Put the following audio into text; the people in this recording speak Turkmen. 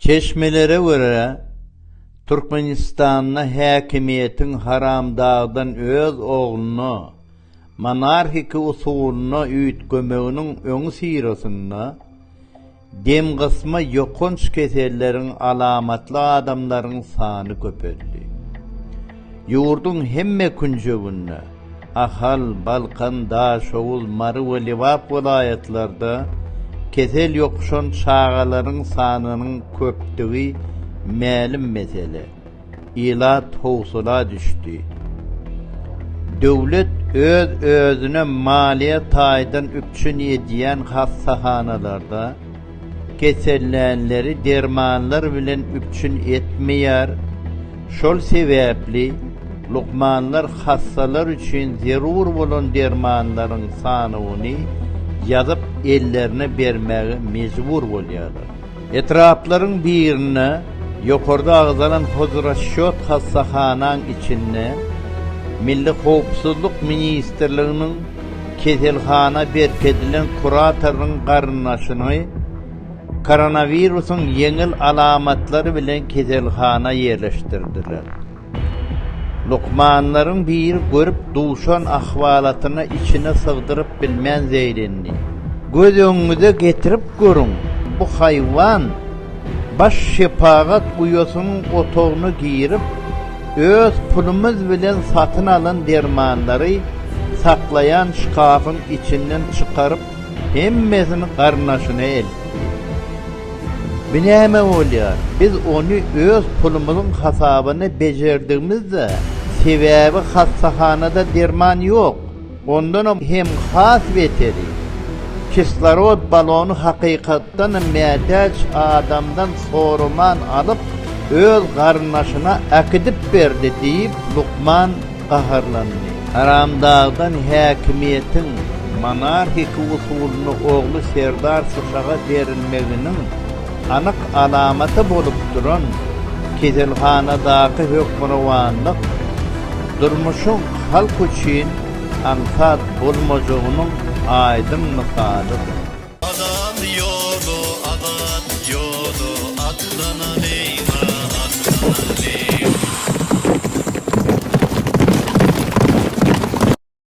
Çeşmelere görä, Türkmenistanda häkimiýetiň haramdagdan öz ogluna monarhiki usulynda üýtgemeginiň öňüsyrasynda demgysma ýokanç keselleriň alamatly adamlaryň sany köpeldi. Ýurduň hemme künjeginde Ahal, Balkan, Daşoguz, Mary we Lebap welaýatlarda kesel ýokuşan çagalaryň sanynyň köpdügi mälim mesele. Ilat howsala düşdi. Döwlet öz-özüne maliýe taýdan üpjün edýän hassahanalarda, Kesellänleri dermanlar bilen üpjün etmeýär. Şol sebäpli lukmanlar hassalar üçin zerur bolan dermanlaryň sanawyny ýazyp ellerine bermäge mejbur bolýarlar. Etraplaryň birinde ýokarda agzalan hozrasçýot hassahanaň içinde Milli howpsuzlyk ministrliginiň, keselhana berkidilen kuratoryň garyndaşyny koronawirusyň ýeňil alamatlary bilen keselhana ýerleşdirdiler. Lukmanlaryň biri görüp duşan ahwalatyny içine sygdyryp bilmän zeýrendi. Göz öňüňize getirip görüň, bu haýwan baş şepagat uýasynyň otagyna girip, Öz pulumyz bilen satyn alan dermanlary saklaýan şkafyň içinden çykaryp, hemmesini garyndaşyna eltdi. Bu näme bolýar? Biz ony öz pulumyzyň hasabyna bejerdigimiz-dä, sebäbi hassahanada derman ýok. Ondanam hem has beteri, kislorod balony hakykatdan hem mätäç adamdan soraman alyp, öz garyndaşyna äkidip berdi diýip, lukman gaharlandy. Haramdagdan häkimiýetiň monarhiki usulynda ogly Serdar Sysaga berilmeginiň, anyk alamaty bolup duran keselhanadaky hökmürowanlyk durmuşyň halk üçin aňsat bolmajagynyň aýdyň mysalydyr. Azat ýoly, azat ýoly, atlana beýga, atlana beýga.